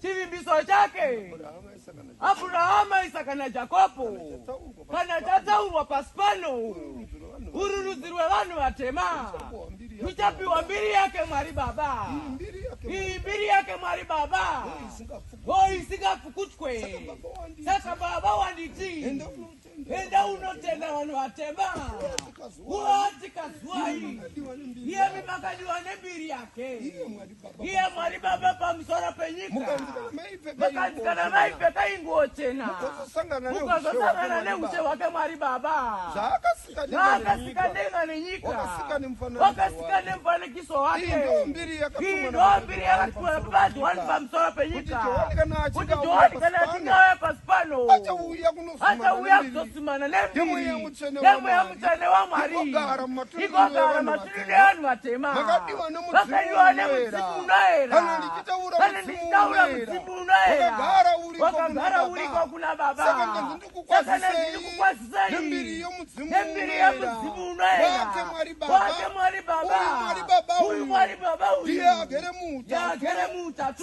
Chivimbiso chake Abhurahama, Isaka naJakobo kana chatsaurwa pasi pano, uru rudzi rwevanhu vatema ruchapiwa mbiri yake Mwari Baba. Iyi mbiri yake Mwari Baba, ho isingapfukutwe. Saka Baba wanditi Enda unotenda vanhu vatema. Uati kazuwai. Iye mimakadiwa nembiri yake. Iye Mwari Baba pamusoro penyika. Makanzi kana maipfeka inguwo chena. Mukazosangana neushe hwake Mwari Baba. Zvaakasika denga nenyika. Wakasika nemufanikiso wake. Iyi ndiyo mbiri yakatumwa naBaba pamusoro penyika. Kuti Johani kana achinge auya pasi pano. achauya kuzosimana nemweya mutsvene wamwari igogara maturi nevanhu vatema vakadiwa nemudzimu unoera kana ndichitaura mudzimu unoera wakagara uriko kuna baba saka ndikukwazisai nembiri yemudzimu unoera wake mwari baba uyu mwari baba uyu ndiye agere muutatu